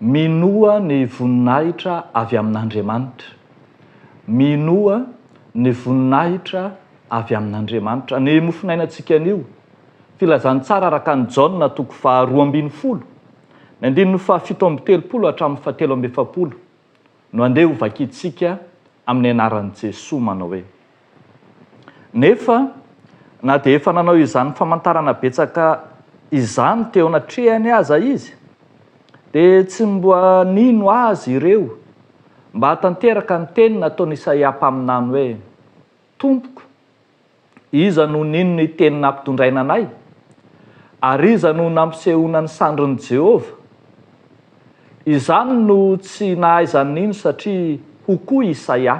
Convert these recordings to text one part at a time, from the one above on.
Minoa ny voninahitra avy amin'Andriamanitra. Minoa ny voninahitra avy amin'Andriamanitra. Ny mofonainantsika anio, Filazantsara araka an'i Jaona toko faharoa ambin'ny folo, ny andininy fahafito amby telopolo hatramin'ny fahatelo amby efapolo. no andeha ho vakintsika amin'ny anaran'i Jesoa manao hoe. Nefa na dia efa nanao izany famantarana betsaka izany teo anatrehany aza izy dia tsy mba nino azy ireo mba hahatanteraka ny teny nataon'i Isaia mpaminany hoe, Tompoko, Iza no nino ny teny nampitondraina anay? Ary iza no nampisehoana ny sandrin'i Jehovah? Izany no tsy nahaizany nino satria hoy koa Isaia,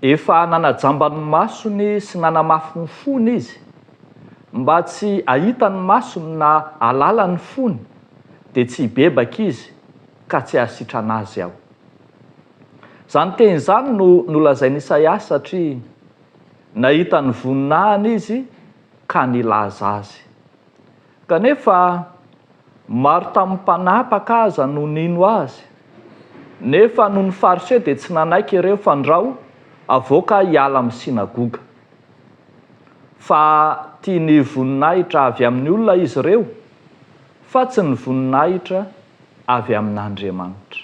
Efa nanajamba ny masony sy nanamafy ny fony izy, mba tsy hahita ny masony na hahalala ny fony, dia tsy hibebaka izy, ka tsy hahasitrana azy aho. Izany teny izany no nolazain'i Isaia satria nahita ny voninahiny izy ka nilaza azy. Kanefa, maro tamin'ny mpanapaka aza no nino azy. Nefa noho ny Fariseo dia tsy nanaiky ireo fandrao avoaka hiala amin'ny synagoga. Fa tia ny voninahitra avy amin'ny olona izy ireo, fa tsy ny voninahitra avy amin'Andriamanitra.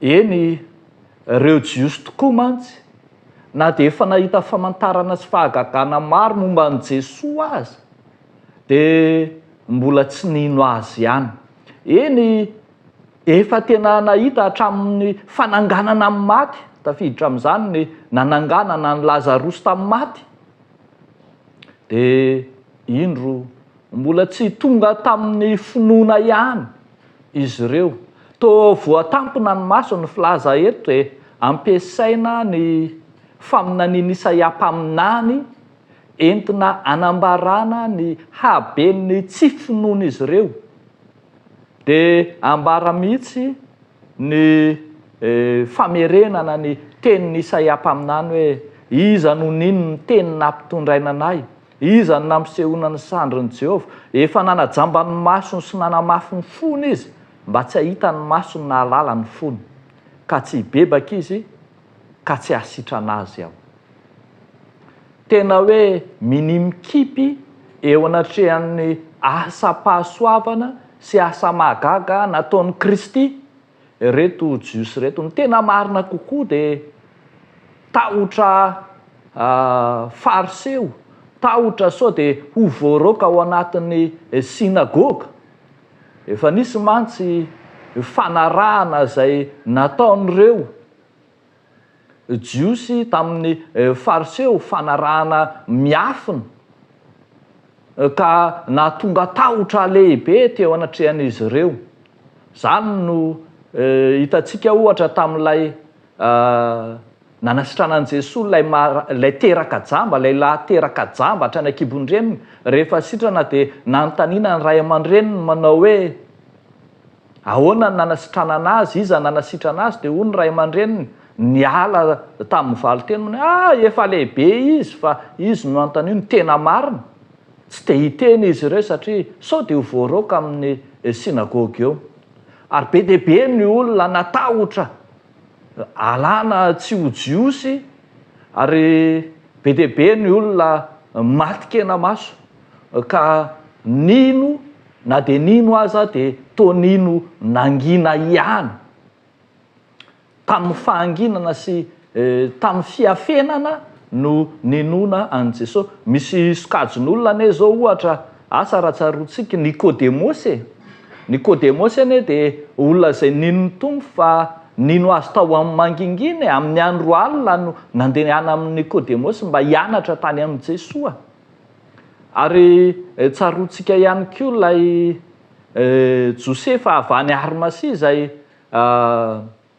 Eny, ireo Jiosy tokoa mantsy, na dia efa nahita famantarana sy fahagagana maro momba an'i Jesoa aza, dia mbola tsy nino Azy ihany. Eny, efa tena nahita hatramin'ny fananganana amin'ny maty, tafiditra amin'izany ny nananganana an'i Lazarosy tamin'ny maty, dia indro mbola tsy tonga tamin'ny finoana ihany. izy ireo. Toa voatampina ny maso ny filaza eto e! Ampiasaina ny faminanian'i Isaia mpaminany entina anambarana ny haben'ny tsy finoan'izy ireo. Dia ambara mihitsy ny famerenana ny tenin'i Isaia mpaminany hoe, Iza no nino ny teny nampitondraina anay? Iza no nampisehoana ny sandrin'i Jehovah? Efa nanajamba ny masony sy nanamafy ny fony izy, mba tsy hahita ny masony na hahalala ny fony, ka tsy hibebaka izy, ka tsy hahasitrana azy aho. Tena hoe minia mikipy eo anatrehan'ny asa-pahasoavana sy asa-mahagaga nataon'i Kristy Ireto Jiosy ireto, ny tena marina kokoa dia tahotra Fariseo, tahotra sao dia ho voaroaka ao anatin'ny synagoga. Efa nisy mantsy fanarahana izay nataon'ireo Jiosy tamin'ny Fariseo fanarahana miafina, ka nahatonga tahotra lehibe teo anatrehan'izy ireo. Izany no hitantsika, ohatra, tamin'ilay nanasitranan'i Jesoa ilay ilay teraka jamba, ilay lahy teraka jamba hatrany an-kibon-dreniny. Rehefa sitrana dia nanontaniana ny ray aman-dreniny manao hoe. Ahoana no nanasitranana azy? Iza no nanasitrana azy? Dia hoy ny ray aman-dreniny, Niala tamin'ny valin-teny manao hoe, Ah! Efa lehibe izy fa izy no nanontaniany ny tena marina. Tsy dia hiteny izy ireo satria sao dia ho voaroaka amin'ny sinagoga eo. Ary be dia be ny olona natahotra alana tsy ho Jiosy, ary be dia be ny olona maty kena-maso ka nino Na dia nino aza dia toa nino nangina ihany. Tamin'ny fahanginana sy tamin'ny fiafenana no ninoana an'i Jesosy. Misy sokajin'olona anie izao ohatra, asa raha tsaroantsika Nikodemosy e! Nikodemosy anie dia olona izay nino ny Tompo fa nino Azy tao amin'ny mangingina e! Amin'ny andro alina no nandehana amin'i Nikodemosy mba hianatra tany amin'i Jesoa. Ary tsaroantsika ihany koa ilay Josefa avy any Arimasia izay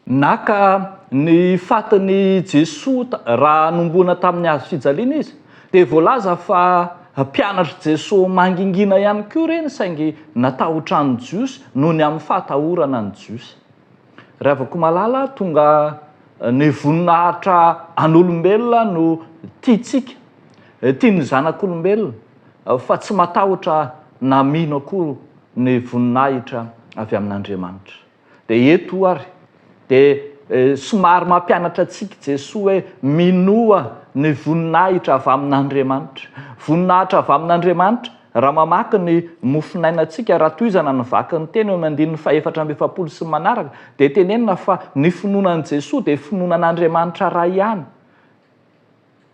naka ny fatin'i Jesoa raha hanomboana tamin'ny hazo fijaliana izy. Dia voalaza fa mpianatr'i Jesoa mangingina ihany koa ireny saingy natahotra ny Jiosy noho ny amin'ny fahatahorana ny Jiosy. Ravakomalala tonga ny voninahitra an'olombelona no tiantsika, tian'ny zanak'olombelona fa tsy matahotra na mino akory ny voninahitra avy amin'Andriamanitra. Dia eto ary dia somary mampianatra antsika Jesoa hoe minoa ny voninahitra avy amin'Andriamanitra. Voninahitra avy amin'Andriamanitra Raha mamaky ny mofonainantsika Ratoizana nivaky ny teny eo amin'ny andininy fahefatra amby efapolo sy ny manaraka dia tenenina fa ny finoana an'i Jesoa dia finoana an'Andriamanitra Ray ihany.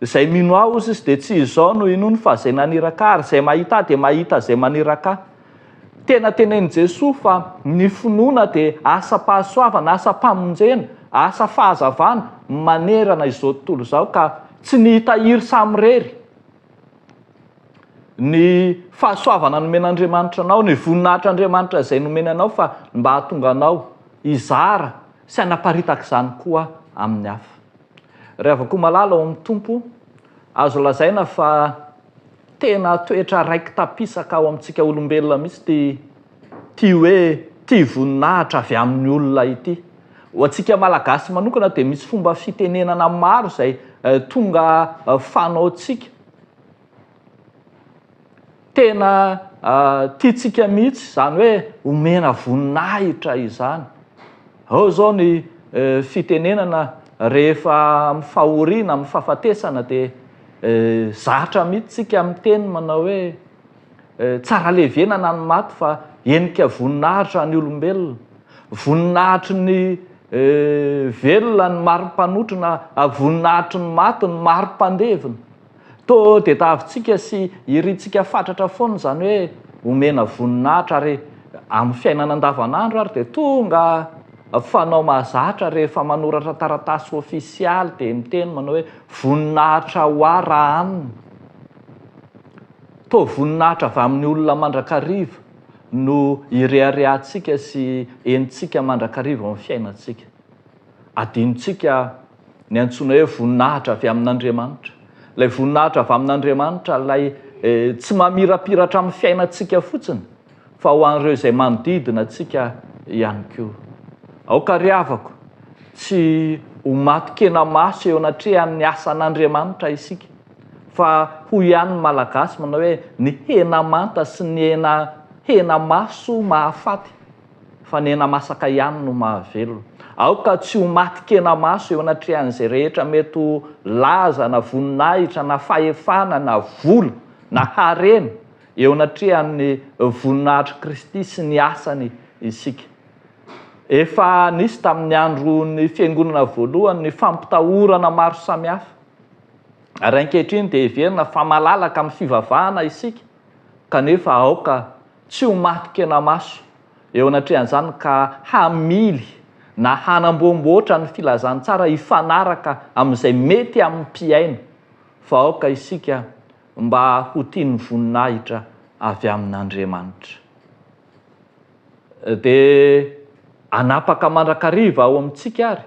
Izay mino Ahy hozy izy dia tsy izao no inoany fa Izay naniraka Ahy ary izay mahita Ahy dia mahita Izay maniraka Ahy. Tena tenenin'i Jesoa fa ny finoana dia asam-pahasoavana, asam-pamonjena, asa fahazavana manerana izao tontolo izao ka tsy ny hitahiry samirery. ny fahasoavana nomen'Andriamanitra anao, ny voninahitr'Andriamanitra izay nomeny anao fa mba hahatonga anao hizara sy hanaparitaka izany koa amin'ny hafa. Ry havako malala ao amin'ny Tompo, azo lazaina fa tena toetra raiki-tapisaka ao amintsika olombelona mihitsy ity Ity hoe tia voninahitra avy amin'ny olona ity. Ho antsika Malagasy manokana dia misy fomba fitenenana maro izay tonga fanaontsika. Tena tiantsika mihitsy izany hoe omena voninahitra izany. Ao izao ny fitenenana rehefa amin'ny fahoriana, amin'ny fahafatesana dia zatra mihitsy isika miteny manao hoe. Tsara levenana ny maty fa henika voninahitra ny olombelona. Voninahitry ny velona ny mari-panotrona ary voninahitry ny maty ny mari-pandevina. To dia tahavintsika sy irintsika fatratra foana izany hoe omena voninahitra ary amin'ny fiainana andavanandro ary dia tonga fanao mahazatra rehefa manoratra taratasy ofisialy dia miteny manao hoe voninahitra ho ahy raha aminy. Toa voninahitra avy amin'ny olona mandrakariva no ireharehantsika sy henontsika mandrakariva ao amin'ny fiainantsika. Adinontsika ny antsoina hoe voninahitra avy amin'Andriamanitra. Ilay voninahitra avy amin'Andriamanitra ilay tsy mamirapiratra amin'ny fiainantsika fotsiny fa ho an'ireo izay manodidina antsika ihany koa. Aoka ry havako, tsy ho matin-kena maso eo anatrehan'ny asan'Andriamanitra isika. Fa hoy ihany ny Malagasy manao hoe ny hena manta sy ny hena hena maso mahafaty fa ny hena masaka ihany no mahavelona. Aoka tsy ho maty kena maso eo anatrehan'izay rehetra mety ho laza na voninahitra na fahefana na vola na harena eo anatrehan'ny voninahitr'i Kristy sy ny asany isika. Efa nisy tamin'ny andron'ny fiangonana voalohany ny fampitahorana maro samihafa. Ary ankehitriny dia heverina fa malalaka amin'ny fivavahana isika, kanefa aoka tsy ho maty kenamaso eo anatrehan'izany ka hamily na hanamboamboatra ny filazantsara hifanaraka amin'izay mety amin'ny mpihaino, fa aoka isika mba ho tia ny voninahitra avy amin'Andriamanitra. Dia hanapaka mandrakariva ao amintsika àry.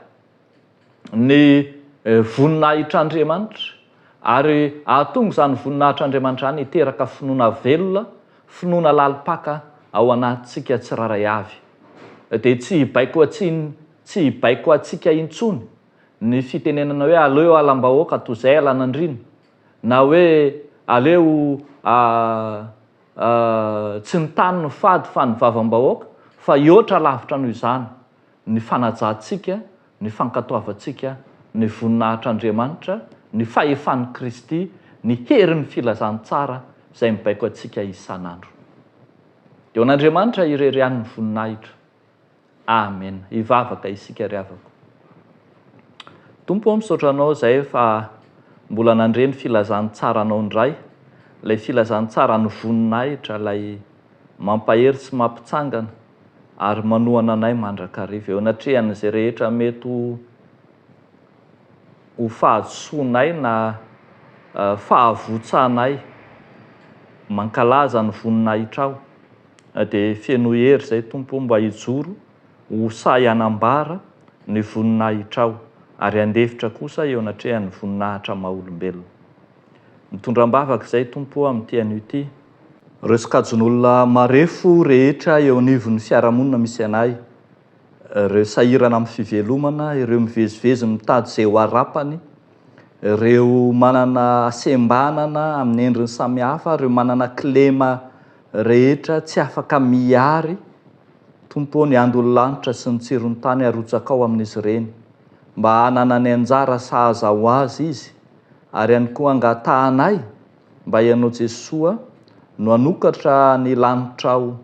ny voninahitr'Andriamanitra, ary hahatonga izany voninahitr'Andriamanitra izany hiteraka finoana velona, finoana lalim-paka ao anatintsika tsirairay avy. Dia tsy hibaiko an-tsiny, tsy hibaiko antsika intsony ny fitenenana hoe aleo halam-bahoaka toy izay halan'andriana, na hoe aleo tsy ny tany no fady fa ny vavam-bahoaka, fa hihoatra lavitra noho izany. ny fanajantsika, ny fankatoavantsika ny voninahitr'Andriamanitra, ny fahefan'i Kristy, ny herin'ny filazantsara izay mibaiko antsika isan'andro. Dia ho an'Andriamanitra irery ihany ny voninahitra. Amena. Hivavaka isika ry havako. Tompo ô, misaotra Anao izay fa mbola nandre ny filazantsaranao indray, ilay filazantsara ny voninahitra, ilay mampahery sy mampitsangana, ary manohana anay mandrakariva eo anatrehan'izay rehetra mety ho ho fahadisoanay na fahavotsanay. Mankalaza ny voninahitrao. Na dia feno hery izay Tompo o, mba hijoro ho sahy hanambara ny voninahitrao ary handefitra kosa eo anatrehan'ny voninahitra maha-olombelona. Mitondra am-bavaka izay Tompo o amin'ity anio ity. Ireo sokajin'olona marefo rehetra eo anivon'ny fiarahamonina misy anay, ireo sahirana amin'ny fivelomana, ireo mivezivezy mitady izay ho arapany, ireo manana hasembanana amin'ny endriny samihafa, ireo manana kilema rehetra, tsy afaka miary, Tompo ô, ny andon'ny lanitra sy ny tsiron'ny tany arotsakao amin'izy ireny, mba hananany anjara sahaza ho azy izy, ary ihany koa angatahanay, Mba ianao Jesoa no hanokatra ny lanitrao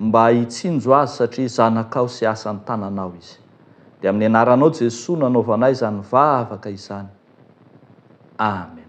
mba hitsinjo azy satria zanakao sy asan'ny tananao izy. Dia amin'ny anaranao Jesoa no anaovanay izany vavaka izany. Amen.